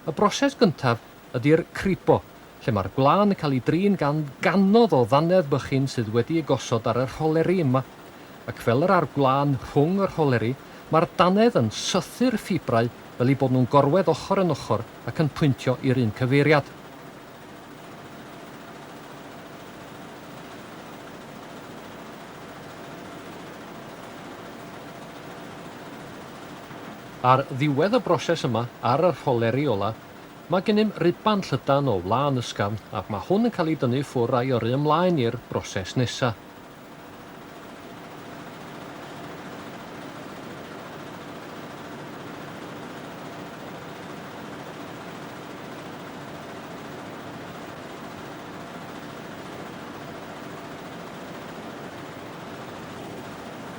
Y broses gyntaf ydy'r cribo, lle mae'r gwlân yn cael ei drin gan ganodd o ddannedd bychin sydd wedi ei gosod ar y rholeri yma, ac fel yr a'r gwlân rhwng y rholeri, mae'r dannedd yn sythu'r ffibrau fel eu bod nhw'n gorwedd ochr yn ochr ac yn pwyntio i'r un cyfeiriad. Ar ddiwedd y broses yma, ar y rholeri ola, mae gennym ruban llydan o wlân ysgafn ac mae hwn yn cael ei dynnu ffwr a'i yrru ymlaen i'r broses nesa.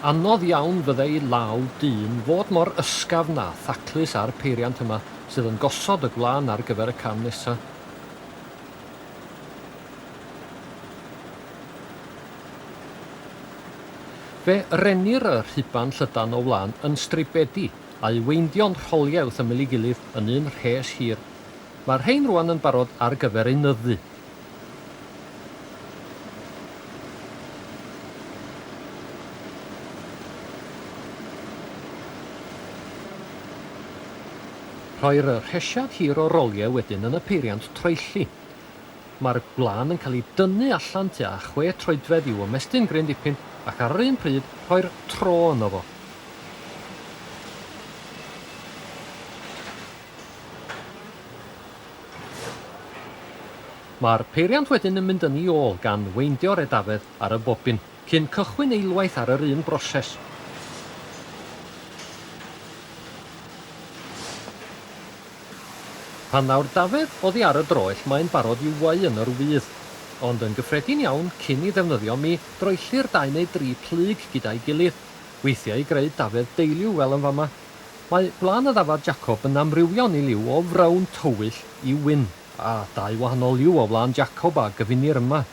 Anodd iawn fyddai law dyn fod mor ysgafn a thaclus â'r peiriant yma sydd yn gosod y gwlân ar gyfer y cam nesa. Fe rennir y rhuban llydan o wlân yn stribedi, a'i weindio'n rholiauth ymyl ei gilydd yn un rhes hir. Mae'r rhein rwan yn barod ar gyfer ei nyddfu. Rhoir y rhesiad hir o roliau wedyn yn y peiriant troelli. Mae'r gwlân yn cael ei dynnu allan tua chwe troedfedd i'w ymestyn gryn dipyn ac ar yr un pryd rhoi'r tro yno fo. Mae'r peiriant wedyn yn mynd yn i ôl gan weindio'r edafedd ar y bobin. Cyn cychwyn eilwaith ar yr un broses. Pan ddaw'r dafedd oddi ar y droell mae'n barod i'w wau yn yr wydd. Ond yn gyffredin iawn, cyn i ddefnyddio mi, droellir dau neu dri plyg gyda'i gilydd, weithiau i greu dafedd deiliw fel yn fama. Mae gwlân y ddafad Jacob yn amrywio'n ei liw o frown tywyll i wyn, a dau wahanol liw o wlân Jacob a gyfunir yma.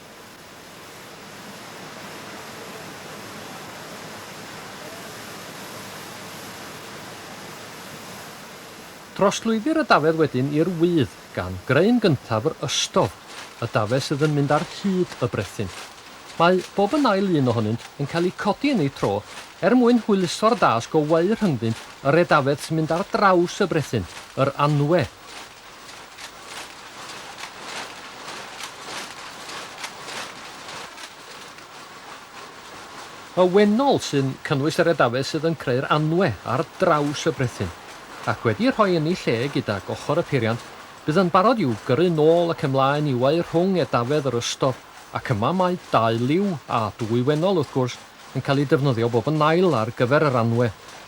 Trosglwyddir y dafedd wedyn i'r wydd, gan greu yn gyntaf yr ystod, y dafedd sydd yn mynd ar hyd y brethyn. Mae bob yn ail un ohonynt yn cael eu codi yn eu tro er mwyn hwyluso'r dasg o weu rhyngddynt yr edafedd sy'n mynd ar draws y brethyn, yr anwe. Y wennol sy'n cynnwys yr edafedd sydd yn creu'r anwe ar draws y brethyn, ac wedi'i rhoi yn ei lle gydag ochr y peiriant, bydd yn barod i'w gyrru nôl ac ymlaen i'w eu rhwng edafedd yr ystod, ac yma mae dau liw, a dwy wennol, wrth gwrs, yn cael eu defnyddio bob yn ail ar gyfer yr anwe.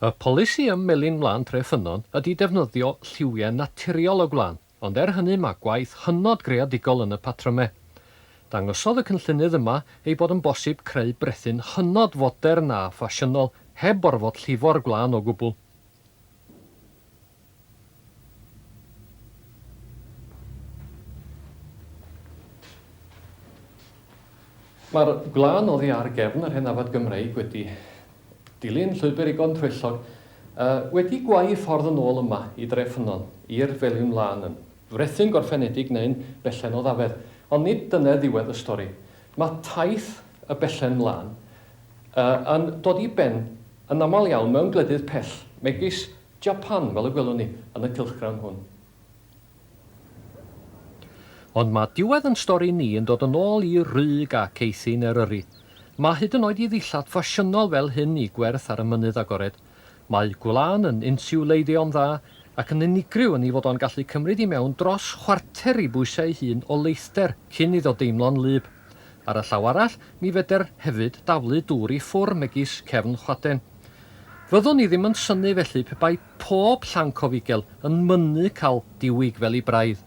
Y polisi ym Melin Wlân Tref Ffynnon ydy defnyddio lliwiau naturiol o gwlân, ond er hynny mae gwaith hynod greadigol yn y patrymau. Dangosodd y cynllunydd yma ei bod yn bosib creu brethyn hynod fodern a ffasiynol heb orfod llifo'r gwlân o gwbl. Mae'r gwlân oddi ar gefn yr hen ddafad Gymreig wedi dilyn llwybr Igon Troellog a wedi gwau ei ffordd yn ôl yma i Dre Ffynnon, i'r Felin Lân, yn frethyn gorffenedig neu'n bellen o ddafedd. Ond nid dyna ddiwedd y stori. Mae taith y Bellen Lân yn dod i ben yn aml iawn mewn gwledydd pell, megis Japan, fel y gwelwn ni yn y cylchgrawn hwn. Ond mae diwedd yn stori ni yn dod yn ôl i rug ac eithin Eryri. Mae hyd yn oed i ddillad ffasiynol fel hyn i gwerth ar y mynydd agored. Mae gwlân yn insiwleiddio'n dda ac yn unigryw yn ei fod o'n gallu cymryd i mewn dros chwarter ei bwysau ei hun o leithder cyn iddo deimlo'n wlyb. Ar y llaw arall, ni fedr hefyd daflu dŵr i ffwr megis cefn chwaden. Fyddwn i ddim yn synnu felly pe bai pob llanc o fugel yn mynnu cael diwyg fel i braidd.